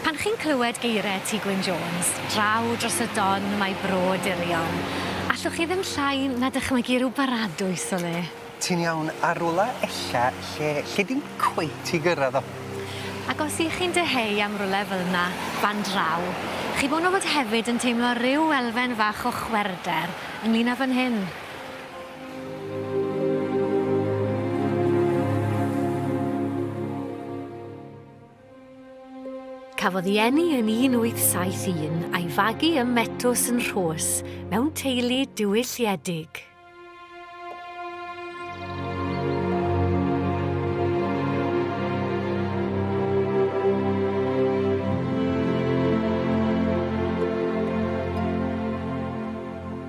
Pan chi'n clywed geiriau Tŷ Gwyn Jones, draw dros y Don mae bro dirion. Allwch chi ddim llai na dychmygu rhyw baradwys o le. Ti'n iawn, ar rwla ella lle lle dim cweit i gyrraedd o. Ac os y'ch chi'n dyheu am rwle fel 'na, fan draw, chi bron o fod hefyd yn teimlo ryw elfen fach o chwerwder ynglŷn â fan hyn. Cafodd ei eni yn 1871 a'i fagu ym Metws yn Rhos mewn teulu diwylliedig.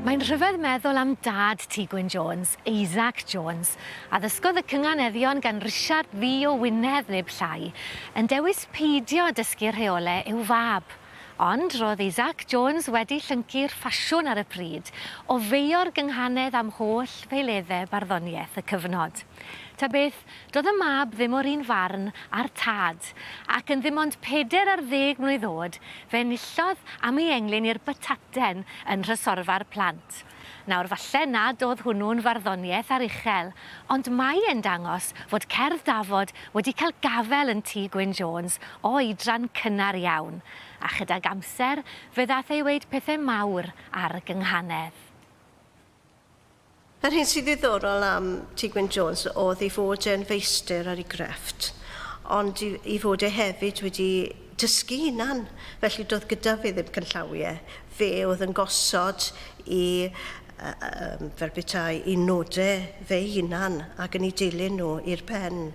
Mae'n rhyfedd meddwl am dad Ti Gwyn Jones, Isaac Jones, a ddysgodd y cynganeddion gan Risiard Ddu o Wynedd neb llai, yn dewis peidio â dysgu rheole i'w fab. Ond roedd Isaac Jones wedi llyncu'r ffasiwn ar y pryd, ofeio'r gynghanedd am holl feileddau barddoniaeth y cyfnod. Ta beth, doedd y mab ddim o'r un farn â'r tad, ac yn ddim ond pedair ar ddeg mlwydd oed, fe enillodd am ei englyn i'r Bataten yn nhrysorfa'r plant. Nawr, falle nad oedd hwnnw'n farddoniaeth ar uchel, ond mae e'n dangos fod cerdd Dafod wedi cael gafael yn Tŷ Gwyn Jones o oedran cynnar iawn, a chydag amser fe ddaeth ei weud pethau mawr ar y gynghanedd. Yr hyn sy'n ddiddorol am Tŷ Gwyn Jones oedd ei fod e'n feistr ar ei grefft, ond ei fod e hefyd wedi dysgu hunan, felly doedd gyda fi ddim cynllawiau. Fe oedd yn gosod i, yym, fel petai, i nodau fe'i hunan ac yn eu dilyn nhw i'r pen.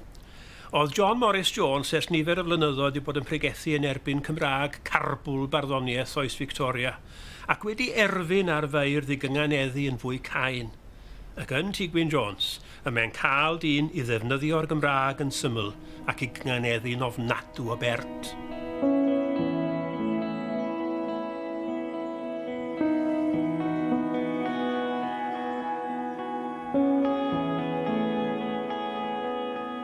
Oedd John Morris Jones ers nifer o flynyddoedd wedi bod yn pregethu yn erbyn Cymraeg carbwl barddoniaeth oes Victoria, ac wedi erfyn ar feirdd i gynganeddu yn fwy cain. Ac yn Tŷ Gwyn Jones, Y mae'n cael dyn i ddefnyddio'r Gymraeg yn syml ac i gynganeddu'n ofnadw o bert.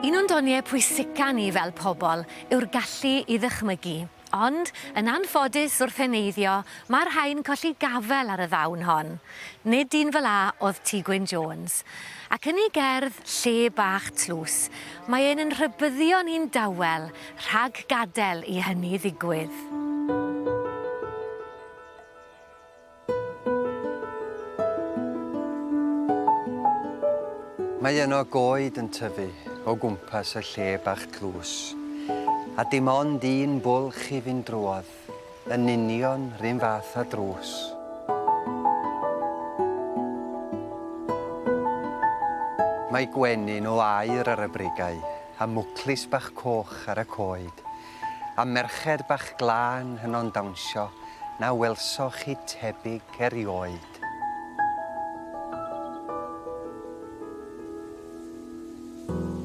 Un o'n doniau pwysica ni fel pobl yw'r gallu i ddychmygu. Ond, yn anffodus wrth heneiddio, mae'r rhain colli gafel ar y ddawn hon. Nid dyn fel 'a o'dd Ti Gwyn Jones. Ac yn ei gerdd, Lle Bach Tlws, mae e'n yn rhybyddio ni'n dawel rhag gadel i hynny ddigwydd. Mae yno goed yn tyfu o gwmpas y lle bach tlws, a dim ond un bwlch i fynd drwodd, yn union run fath â drws. Mae gwenyn o aur ar y bregau, a mwclis bach coch ar y coed, a merched bach glân hynno'n dawnsio na welsoch chi tebyg erioed.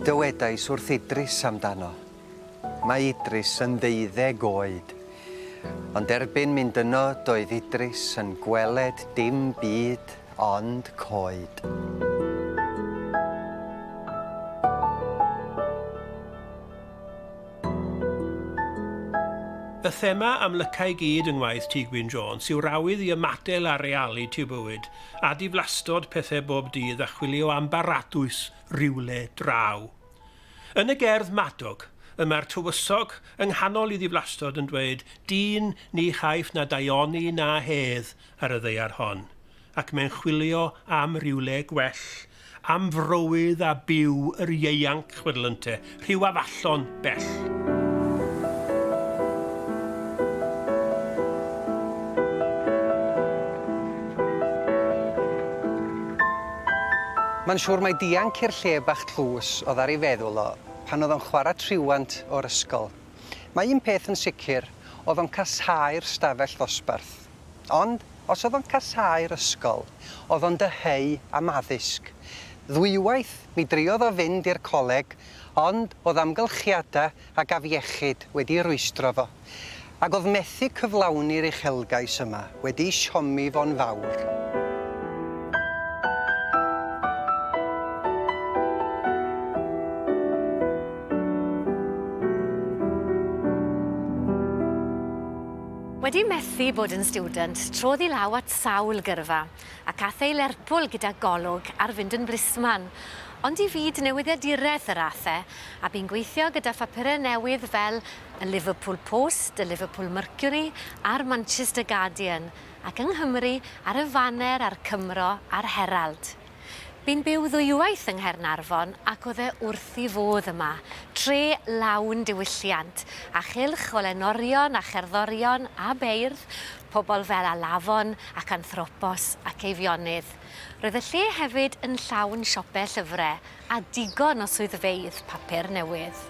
Dywedais wrth Idris amdano. Mae Idris yn ddeuddeg oed. Ond erbyn mynd yno doedd Idris yn gweled dim byd ond coed. Y thema amlyca i gyd yng ngwaith Tŷ Gwyn Jones yw'r awydd i ymadel a realiti y bywyd, a diflastod pethe bob dydd a chwilio am baradwys rywle draw. Yn y gerdd 'Madog', y mae'r tywysog yng nghanol i ddiflastod yn dweud 'Dyn ni chaiff na daioni na hedd ar y ddaear hon', ac mae'n chwilio am rywle gwell Am frowydd a byw yr ieuanc chwyrlynte rhyw afallon bell. Mae'n siŵr mai dianc i'r lle bach tlws oedd ar ei feddwl o pan oedd o'n chwarae triwant o'r ysgol. Mae un peth yn sicr, oedd o'n casáu'r stafell ddosbarth. Ond, os oedd o'n casáu'r ysgol, oedd o'n dyheu am addysg. Ddwywaith, mi driodd o fynd i'r coleg, ond oedd amgylchiadau ag afiechyd wedi rwystro fo, ac oedd methu cyflawni'r uchelgais yma wedi siomi fo'n fawr. Wedi methu bod yn stiwdant, trodd i law at sawl gyrfa, ac ath ei Lerpwl gyda golwg ar fynd yn blisman. Ond i fyd newyddiaduraeth yr ath e, a bu'n gweithio gyda phapurau newydd fel y Liverpool Post, y Liverpool Mercury a'r Manchester Guardian, ac yng Nghymru ar y Faner a'r Cymro a'r Herald. Bu'n byw ddwywaith yng Nghaernarfon ac o'dd e wrth 'i fodd yma. Tre lawn diwylliant, a chylch o lenorion a cherddorion a beirdd, pobl fel Alafon ac Anthropos ac Eifionydd. Roedd y lle hefyd yn llawn siope llyfre a digon o swyddfeydd papur newydd.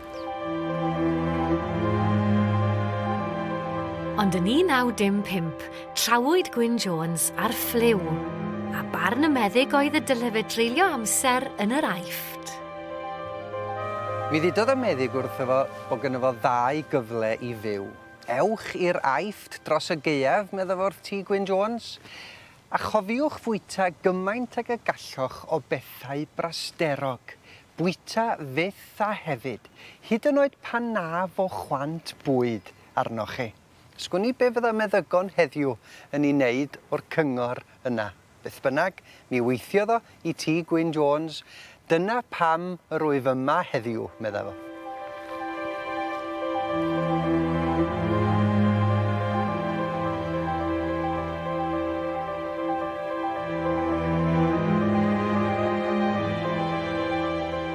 Ond yn 1915, trawyd Gwyn Jones ar ffliw, a barn y meddyg oedd y dylai fe dreulio amser yn yr Aifft. Mi ddudodd y meddyg wrtho fo bod gynno fo ddau gyfle i fyw. Ewch i'r Aifft dros y gaeaf, medda fo wrth ti, Gwyn Jones, a chofiwch fwyta gymaint ag y galloch o bethau brasterog, Bwyta fyth a hefyd, hyd yn oed pan na fo chwant bwyd arnoch chi. Sgwn i be fydda meddygon heddiw yn ei wneud o'r cyngor yna. Beth bynnag, mi weithiodd o i Tŷ Gwyn Jones, dyna pam yr wyf yma heddiw, medda fo.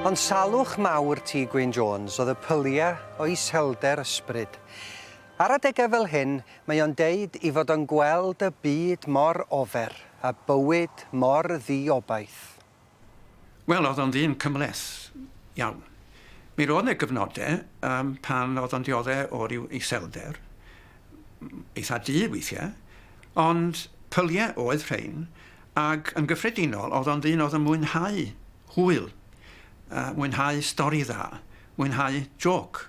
Ond salwch mawr Tŷ Gwyn Jones oedd y pyliau o iselder ysbryd. Ar adegau fel hyn, mae o'n deud i fod o'n gweld y byd mor ofer a bywyd mor ddi-obaith. Wel, oedd o'n ddyn cymhleth iawn. Mi roedd 'ne gyfnode yym pan oedd o'n diodde' o ryw iselder, eitha' du weithie', ond pylie' oedd rhein, ag yn gyffredinol oedd o'n ddyn oedd yn mwynhau hwyl, yy mwynhau stori dda, mwynhau jôc,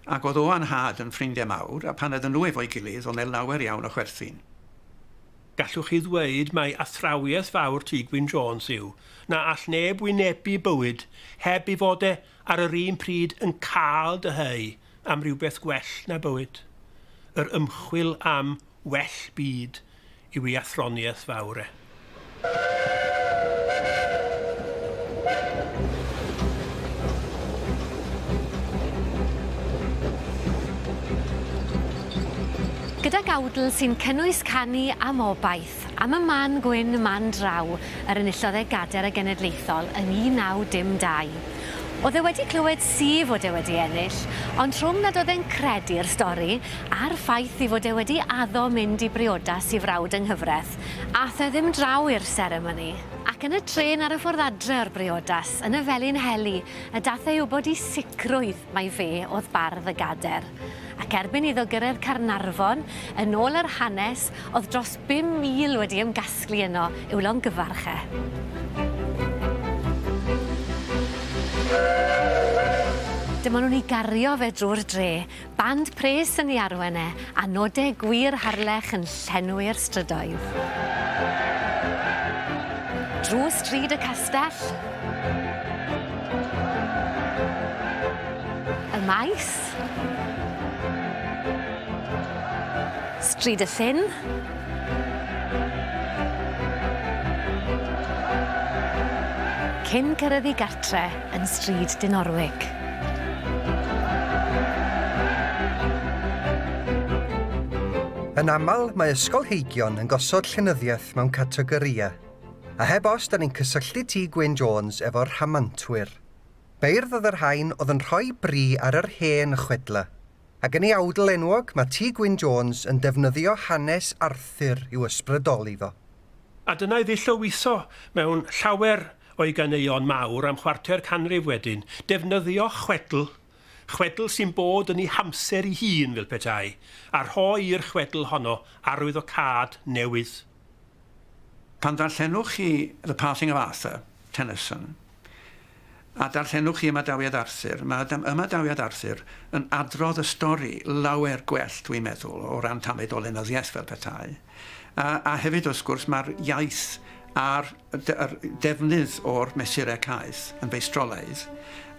ac oedd o a'n nhad yn ffrindie' mawr, a pan oedden nhw efo'i gilydd, oedd 'ne lawer iawn o chwerthin. Gallwch chi ddweud mai athrawiaeth fawr Tŷ Gwyn Jones yw na all neb wynebu bywyd heb ei fod e ar yr un pryd yn cael dyheu am rywbeth gwell na bywyd. Yr ymchwil am well byd yw ei athroniaeth fawr e. Gydag awdl sy'n cynnwys canu am obaith, am y man gwyn man draw yr enillodd e gader y genedlaethol yn 1912. O'dd e wedi clywed syf fod e wedi ennill, ond rhwng nad o'dd e'n credu'r stori, a'r ffaith ei fod e wedi addo mynd i briodas i frawd yng nghyfraith, a'th e ddim draw i'r seremoni. Ac yn y trên ar y ffordd adre o'r briodas, yn y Felin Heli, y dath e i wbod i sicrwydd Mai fe oedd bardd y gader. Ac erbyn iddo gyrraedd Caernarfon, yn ôl yr hanes, oedd dros 5,000 wedi ymgasglu yno i'w longyfarch e. Dyma nhw'n ei gario fe drwy'r dre, band pres yn ei arwain e, A nodau gwir Harlech yn llenwi'r strydoedd. Drwy stryd y castell. Y maes. Stryd y llyn. Cyn cyrraedd i gartre. yn Stryd Dinorwig. Yn aml, mae ysgolheigion yn gosod llenyddiaeth mewn categorïau, a heb os da ni'n cysylltu Tŷ Gwyn Jones efo'r rhamantwyr. Beirdd oedd y rhain oedd yn rhoi bri ar yr hen chwedlau, ac yn ei awdl enwog mae Tŷ Gwyn Jones yn defnyddio hanes Arthur i'w ysbrydoli fo. A dyna iddi llywyso mewn llawer o'i ganeuon mawr am chwarter canrif wedyn, defnyddio chwedl, chwedl sy'n bod yn ei hamser ei hun fel petai, a rhoi i'r chwedl honno arwyddocâd newydd. Pan ddarllenwch chi The Passing of Arthur, Tennyson, a darllenwch chi ymadawiad Arthur, mae ymadawiad Arthur yn adrodd y stori lawer gwell dwi'n meddwl o ran tamid o lenyddiaeth fel petai. A, a hefyd wrth gwrs mae'r iaith a'r defnydd o'r mesurau caeth yn feistrolaidd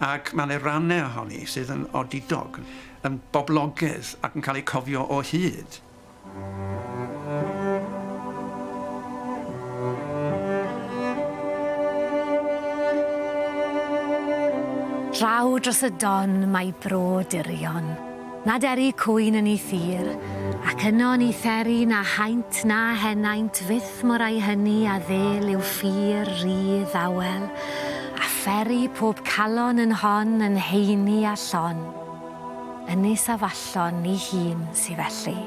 ac mae yna rannau ohoni sydd yn odidog, yn boblogaidd ac yn cael eu cofio o hyd. Draw dros y don mae bro dirion, nad eri cwyn yn ei thir, ac yno ni theri na haint na henaint fyth mor ai hynny a ddel yw ffyr ry ddawel, a pheri pob calon yn hon yn heini a llon. Ynys Afallon ni hun sy felly.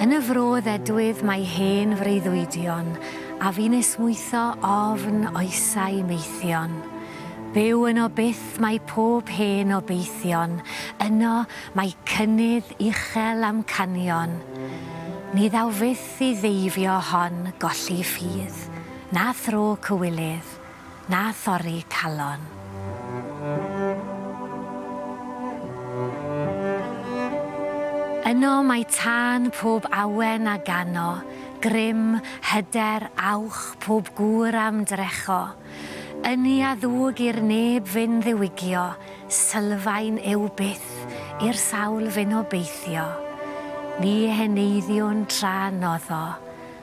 Yn y fro ddedwydd mae hen freuddwydion a fu'n esmwytho ofn oesau maethion. Byw yno byth mae pob hen obeithion, yno mae cynnydd uchel amcanion. Ni ddaw fyth i ddeifio hon golli ffydd. Na thro cywilydd, na thorri calon. Yno mae tân pob awen a gano, grym, hyder, awch, pob gŵr a'm drecho. Ynni a ddwg i'r neb fyn ddiwygio, sylfaen yw byth i'r sawl fyn obeithio. Ni heneiddiwn tra noddo.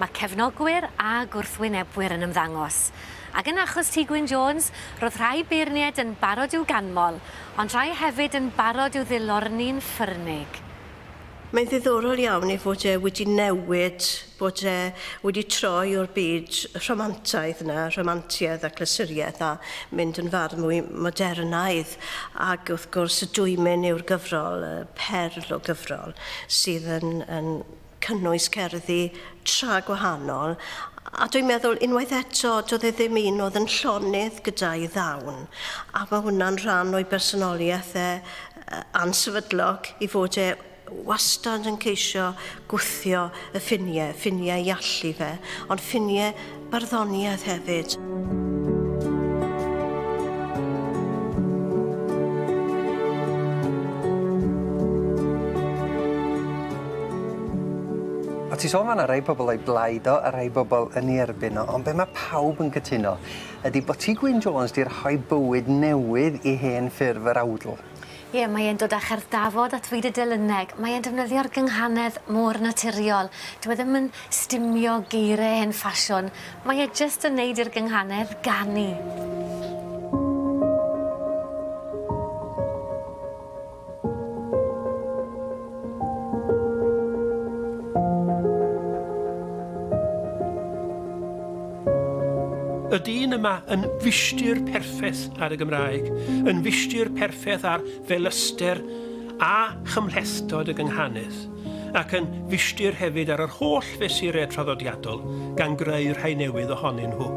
Mae cefnogwyr a gwrthwynebwyr yn ymddangos. Ac yn achos Tŷ Gwyn Jones, roedd rhai beirniaid yn barod i'w ganmol, ond rhai hefyd yn barod i'w ddilorni'n ffyrnig. Mae'n ddiddorol iawn ei fod e wedi newid, bod e wedi troi o'r byd rhamantaidd 'na, rhamantiaeth a chlysuriaeth, a mynd yn fardd mwy modernaidd. Ac wrth gwrs, y dwymyn yw'r gyfrol, y perl o gyfrol, sydd yn, yn cynnwys cerddi tra gwahanol, a dwi'n meddwl unwaith eto, doedd e ddim un oedd yn llonydd gyda'i ddawn, a mae hwnna'n rhan o'i bersonoliaeth e, ansefydlog, i fod e wastad yn ceisio gwthio y ffiniau, ffiniau ei allu fe, ond ffiniau barddoniaeth hefyd. A ti sôn fan 'na rei pobl o'i blaid o a rei bobl yn ei erbyn o ond be' ma' pawb yn cytuno ydi bo' ti Gwyn Jones 'di rhoi bywyd newydd i hen ffurf yr awdl. Ie, mae e'n dod â cherdd Dafod at fyd y delyneg. Mae e'n defnyddio'r gynghanedd mor naturiol. Dyw e ddim yn stumio geiriau hen ffasiwn. Mae e jyst yn neud i'r gynghanedd ganu. Y dyn yma yn fishtir perffeth ar y Gymraeg, yn fishtir perffeth ar felyster a chymhlethdod y gynghanedd, ac yn fishtir hefyd ar yr holl fesurau traddodiadol, gan greu rhai newydd ohonyn nhw.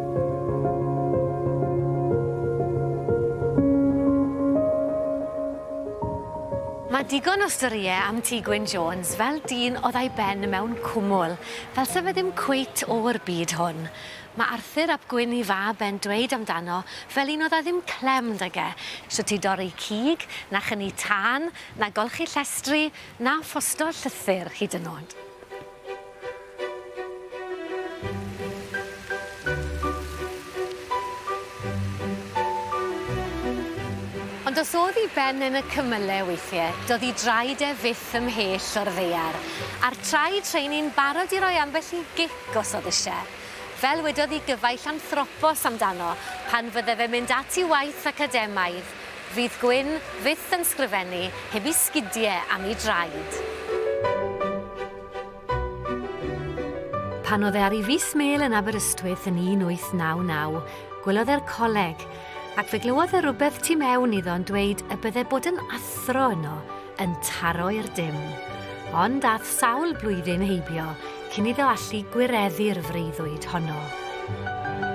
Mae digon o storie am Ti Gwyn Jones fel dyn odd a'i ben mewn cwmwl. Fel se fe ddim cweit o'r byd hwn. Mae Arthur ap Gwyn i fab e'n dweud amdano fel un oedd â ddim clem 'da ge, shwt i dorri cig, na chynnu tân, na golchi llestri, na ffosto llythyr hyd yn o'd. Ond os o'dd 'i ben yn y cymyle weithie, do'dd 'i draed e fyth ymhell o'r ddaear, a'r traed rheiny'n barod i roi ambell i gic os o'dd isie. Fel wedodd 'i gyfaill Anthropos amdano, pan fydde fe'n mynd at 'i waith academaidd, Fydd Gwyn fyth yn sgrifennu heb 'i sgidie am 'i draed. Pan oedd e ar ei fis mêl yn Aberystwyth yn 1899, gwelodd e'r coleg, ac fe glywodd e rywbeth tu mewn iddo'n dweud y bydde bod yn athro yno yn taro i'r dim. Ond ath sawl blwyddyn heibio cyn iddo allu gwireddu'r freuddwyd honno.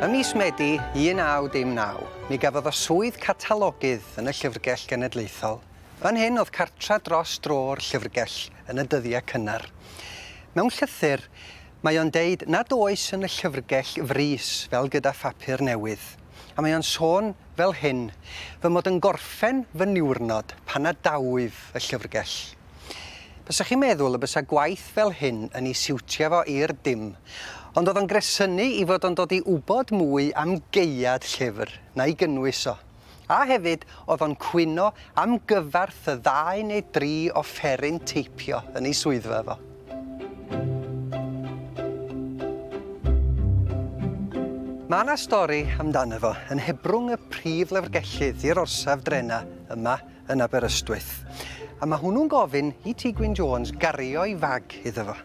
Ym mis Medi 1919, mi gafodd o swydd catalogydd yn y Llyfrgell Genedlaethol, Fan hyn oedd cartref dros dro o'r llyfrgell yn y dyddiau cynnar. Mewn llythyr, mae o'n deud nad oes yn y llyfrgell frys fel gyda phapur newydd, a mae o'n sôn fel hyn, Fy mod yn gorffen fy niwrnod pan a dawif y llyfrgell. Bysach chi'n meddwl y bysa gwaith fel hyn yn i siwtio fo i'r dim, ond oedd o'n gresynu i fod o'n dod i wybod mwy am gaead llyfr, na'i gynnwys o. A hefyd, oedd o'n cwyno am gyfarth y ddau neu dri offeryn teipio yn ei swyddfa fo. Mae 'na stori amdano fo yn hebrwng y prif lyfrgellydd i'r orsaf drena yma yn Aberystwyth. A mae hwnnw'n gofyn i Ti Gwyn Jones gario'i fag iddo fo.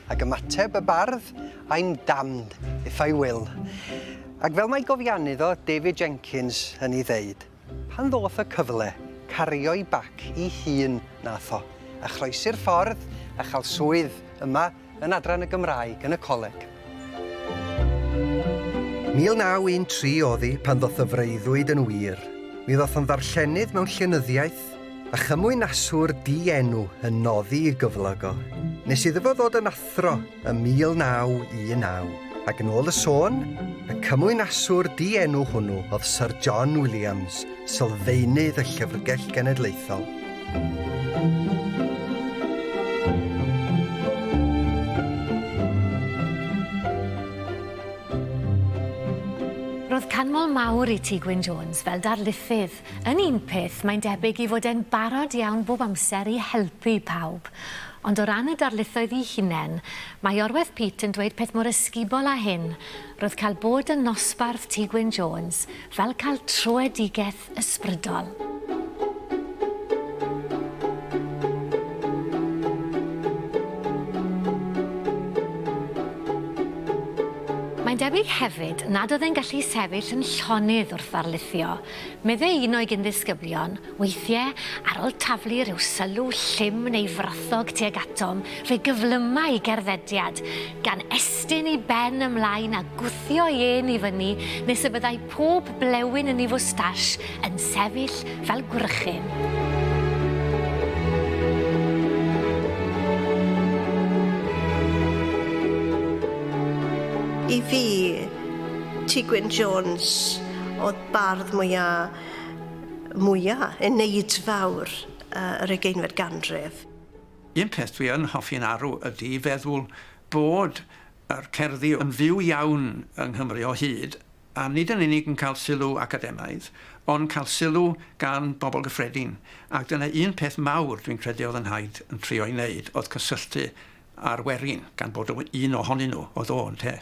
Ac ymateb y bardd, I'm damned if I will. Ac fel mae gofiannydd o, David Jenkins, yn ei ddeud, pan ddoth y cyfle, cario'i bac i hun nath o, a chroesi'r ffordd a chael swydd yma yn Adran y Gymraeg yn y Coleg. 1913 o'dd hi pan ddoth y freuddwyd yn wir. Mi ddoth o'n ddarllenydd mewn llenyddiaeth A chymwynaswr di-enw yn noddi i gyflog o, nes iddo fo ddod yn athro ym 1919, ac yn ôl y sôn, y cymwynaswr di-enw hwnnw oedd Syr John Williams, sylfaenydd y Llyfrgell Genedlaethol. Roedd canmol mawr i Tŷ Gwyn Jones fel darlithydd, Yn un peth, mae'n debyg i fod e'n barod iawn bob amser i helpu pawb. Ond o ran y darlithoedd i hunen, mae Orweth Peat yn dweud peth mor ysgubol â hyn, Roedd cael bod yn nosbarth Tŷ Gwyn Jones fel cael troedigeth ysbrydol. Mae'n debyg hefyd nad oedd e'n gallu sefyll yn llonydd wrth ddarlithio. Meddai un o'i gyn-ddisgyblion, Weithiau, ar ol taflu rhyw sylw llym neu frothog tuag atom, fe gyflyma i gerddediad, gan estyn ei ben ymlaen a gwthio ei ên i fyny nes y byddai pob blewyn yn ei fwstash yn sefyll fel gwrychyn. I fi, Ti Gwyn Jones. Oedd bardd mwya, mwya, eneidfawr uh, yr ugeinfed ganrif. Un peth dwi yn hoffi'n arw ydy i feddwl bod yr cerddi yn fyw iawn yng Nghymru o hyd, a nid yn unig yn cael sylw academaidd, ond cael sylw gan bobl gyffredin. Ac dyna un peth mawr dwi'n credu oedd yn Hyde yn trio'i wneud, oedd cysylltu a'r werin, gan bod o un ohonyn nhw oedd o, ynte.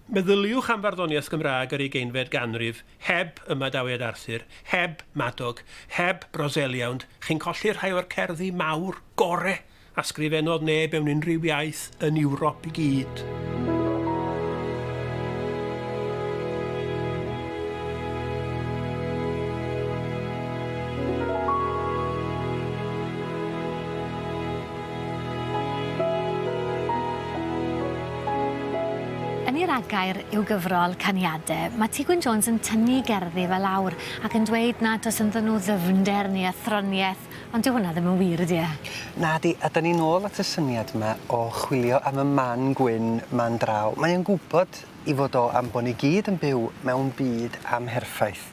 Meddyliwch am farddoniaeth Gymraeg yr ugeinfed ganrif, heb ymadawiad Arthur, heb Madog, heb Brozeliawnd, chi'n colli rhai o'r cerddi mawr gore a sgrifennodd neb mewn unrhyw iaith yn Ewrop i gyd. Yn ei ragair i'w gyfrol Caniade, mae Tŷ Gwyn Jones yn tynnu gerddi fe lawr ac yn dweud nad oes ynddyn nhw ddyfnder neu athroniaeth, ond dyw hwnna ddim yn wir, ydy e? Nadi, a 'dan ni'n ôl at y syniad yma o chwilio am y man gwyn 'ma'n draw. Mae o'n gwybod ei fod o am bo' ni gyd yn byw mewn byd amherffaith.